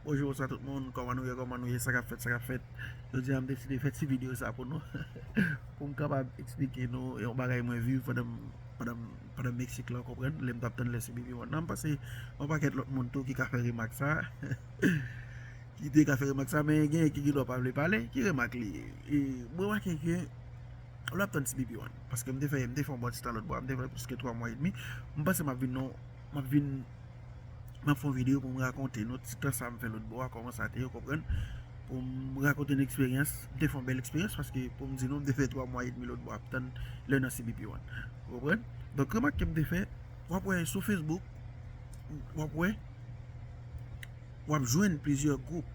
Bonjou bonswa tout moun kòman nou ye kòman nou ye sa kap fèt sa kap fèt jodi a m deside fè ti video sa pou nou pou m kapab esplike nou yon bagay mwen viv pandan m pandan m pandan m mexique la ou konprann lè m tap tann lè sou BB one nan m panse yon pakèt lòt moun tou ki ka fè remak sa ki te ka fè remak sa men gen ki gendwa pa vle pale ki remak li ye e m remake ke lè w ap tann ti BB one paske m te fè m te fè yon bon ti tan lòtbò a m te fè plis ke 3 mwa edmi m panse m ap vin nan yon Map vin Map fon video pou m rakonte nou ti tan sa m fè lòt bò a kòman sa te ou konprann pou m rakonte nou eksperyans m te fon bèl eksperyans paske pou m di nou m te fè 3 mwa edmi lòt bò ap tann lè nan cbp one ou konprann donk remak ke m te fè wap wè sou facebook wap wè. W ap jwenn plizyè gwoup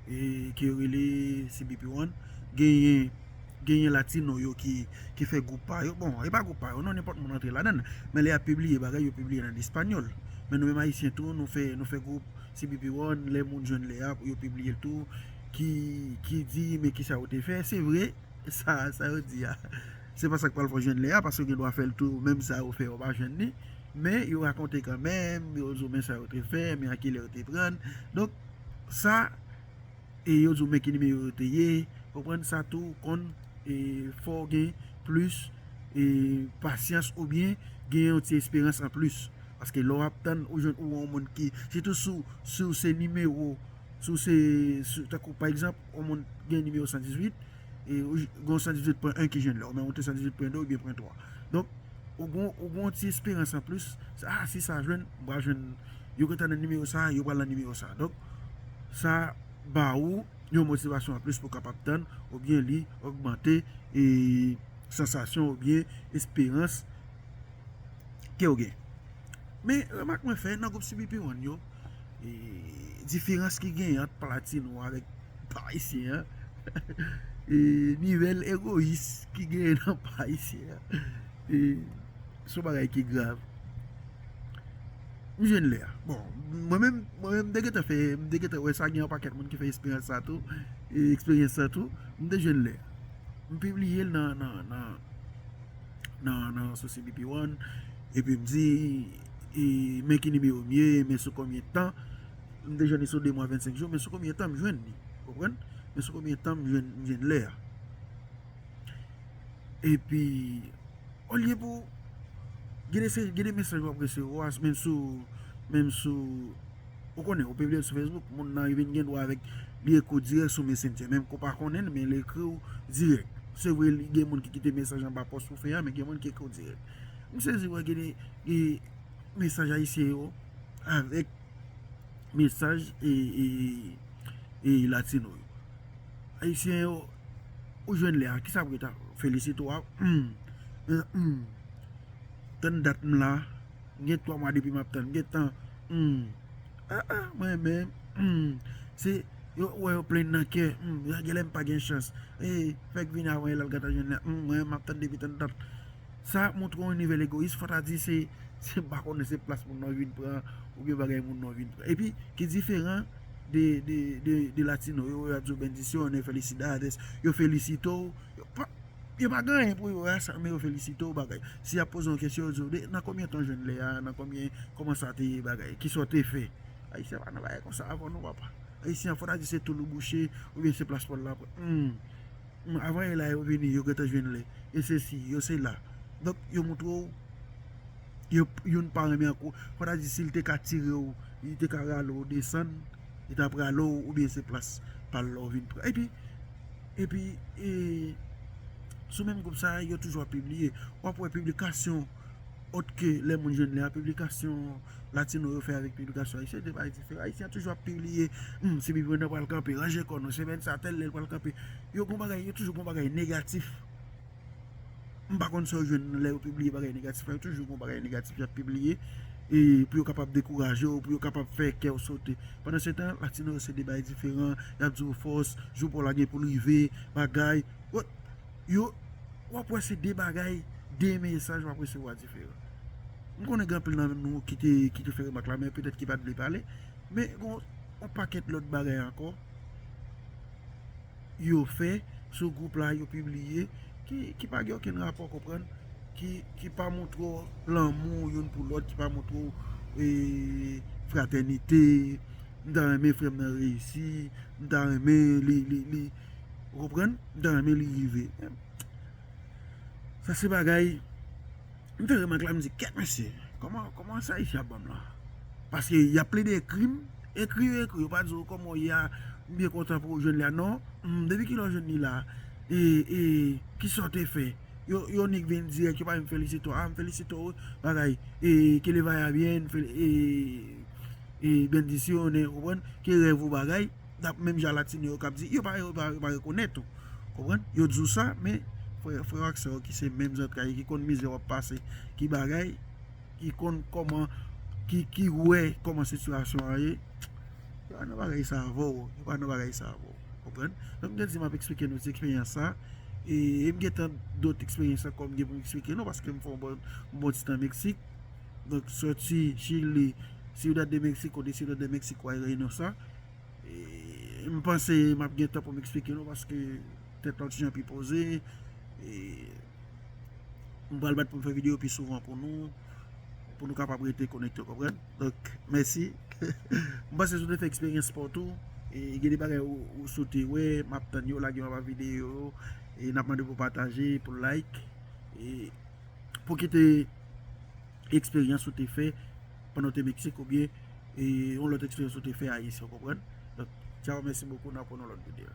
ke yo rele CBP One. Genyen latino yo ki fè gwoup pa yo. Bon, e pa gwoup pa yo non, nenpòt moun antre ladann. Men lè y ap pibliye bagay, yo pibliye l an espanyòl. Men nou menm Ayisyen tou, nou fè gwoup CBP One, lè moun jwenn lè a pou yo pibliye l tou. Ki di men kisa yo te fè. Se vre, sa yo di a. Se pa sa k pral fè w jwenn lè a, paske yo gen dwa fè l tou, menm sa yo fè yo pa jwenn li. Men yo rakonte kanmenm, yo zo men sa yo te fè, men a kilè yo te pran. Donk, sa, e yo zo men ki nimeyo yo te ye, konprann sa tou konn e fè w gen plis e pasyans oubyen gen yon ti esperans an plis. Paske lè w ap tann ou jwenn ou wè yon moun ki, sitou si w, si w se nimewo, si w se, tankou pa egzanp, yon moun gen nimewo 118, e gen yon 118 pwen 1 ki jwenn la, ou menm ou te 118 pwen 2 oubyen pwen 3. Donk. Ou gen yon ti esperans an plis, se ah si sa jwenn, m pral jwenn, yo gentan nan nimewo sa, yo pral nan nimewo sa. Donk, sa ba ou yon motivasyon an plis pou w kapab tann oubyen li ogmante e sansasyon oubyen esperans ke w gen. Men, remak mwen fè nan gwoup CBP One yo. Diferans ki gen ant platino avèk pa ayisyen an E nivel egoyis ki gen nan pa ayisyen an E son bagay ki grav M jwenn lè a Bon mwen menm mwen menm m te gentan fè m te gentan wè sa gen yon pakèt moun ki fè esperyans sa tou E eksperyans sa tou m te jwenn lè M pibliye l nan nan nan nan nan sosyete pi wonn Epi m di e men ki nimewo m ye, men sou konbyen tan, m te jwenn li sou 2 mwa 25 jou, men sou konbyen tan m jwenn li, konprann, men sou konbyen tan m jwenn lè a. E pi, o lye pou, gen de mesaj w ap resevwa, men sou, men sou, ou konnen, ou pibliye l sou Facebook, moun nan li vin gen dwa avèk, li ekri w dirèk sou Messenger, menm ke w pa konnen l, men li ekri w dirèk. Se vre li gen moun ki kite mesaj anba pòs ou fè a, men gen moun ki ekri w dirèk. M sezi wè gen de mesaj ayisyen yo avèk mesaj e latino yo. Ayisyen yo ou jwenn lè a kisa pou yo ta felisite w a humm tann dat m la gen 3 mwa depi m ap tann gen tan humm a a m renmen humm se yo wè yo plenn nan kè humm gen lè m pa gen chans e fèk vini avan e lal gata jwenn lè humm m ap tann depi tann dat. Sa ap montre yon nivel egoyis, fò ta di se m pa konnen se plas moun nan vin pran oubyen bagay moun nan vin pran. Epi ki diferan de latino yo yo ap di w bendicione, felicidades, yo felisite w, yo pa gen anyen pou yo a sa men yo felisite w bagay. Si y ap poze w yon kesyon yo di w de nan konbyen tan w jwenn lè a, nan konbyen, kòman sa te ye bagay, ki sa w te fè. Ayisyen pa nan bagay konsa avò non papa. Ayisyen fò ta di se toul ou bouche oubyen se plas pòl la pran. Avan e la yo vini yo gentan jwenn li e sesi yo sela donk yo moutre w ke youn pa renmen anko fò ta di si li te ka tire w li te ka rale w desann li tap rale w ou byen se plas pa l la w vin pran epi epi e sou menm gwoup sa yo toujou ap pibliye wap wè piblikasyon Ot ke lè moun jwenn li a piblikasyon latino yo fè avèk piblikasyon ayisyen, 2 bagay diferan. Ayisyen an toujou ap pibliye, Humm, Sibi Prenan pral kanpe, ranje kò nou, semèn sa a, tèl lè l pral kanpe. Yo gon bagay, yo toujou gon bagay negatif. M pa konn sa yo jwenn lè yo pibliye bagay negatif la, yo toujou gon bagay negatif y ap pibliye e pou yo kapab dekouraje w, pou yo kapab fè kè w sote. Pandansetan, latino yo se 2 bagay diferan, y ap di w fòs, jou pa w la gen pou l rive, bagay. yo, w ap wè se de bagay, de mesaj w ap resevwa diferan. M konnen gen anpil nan nou ki te fè remak la, men petèt ki pa t vle pale, men gen yon pakèt lòt bagay ankò yo fè sou gwoup la, yo pibliye, ki pa gen okenn rapò, konprann, ki pa montre w lanmou youn pou lòt, ki pa montre w e fratènite, m ta renmen frè m nan reyisi, m ta renmen li, li, li. Ou konprann? M ta renmen li rive. Sa se bagay, m fè remak la m di kèt mesye, kòman sa Ayisyen ap banm la? Paske y ap plede ekri m, ekri yo ekri, yo pa di w kòman w ye a, m byen kontan pou ou jwenn li a, non, depi kilè w jwenn li la, e kisa w te fè? Yon nèg vin dirèk, yo pa menm felisite w, a m felisite w, bagay, e ke le vaya byen, e bendisyonen, ou konprann, ke rèv ou bagay. Dap menm jan latino yo kap di yo pa yo pa yo pa rekonèt ou konprann yo di w sa men frè frè w ak sè w ki se menm zantray yo ki konn mizè wap pase ki bagay ki konn kòman ki ki wè kòman sitiyasyon an ye yo pa nan bagay sa avè w yo pa nan bagay sa avè w konprann donk m te di map eksplike nou ti eksperyans sa e m gen tan dot eksperyans ankò m gen pou m eksplike nou paske m fè yon bon yon bon ti tan Meksik donk sòti chili Ciudad de Mexico de Ciudad de Mexico a Reynosa. M panse m ap gen tan pou m eksplike nou paske tèt la ti jan pi poze. M pral mèt pou m fè videyo pi souvan pou nou. Pou nou kapab rete konekte, konprann? Donk, mèsi. M panse si w te fè eksperyans pa w tou, gen de bagay ou sote wè, m ap tann yo, lage yo anba videyo yo. E n ap mande pou w pataje, pou w like. E pou w kite. eksperyans ou te fè pandan ou te Mexique ou byen yon lòt eksperyans ou te fè ayiti ou konprann? Donk tchao mèsi bokou nan pran yon lòt videyo.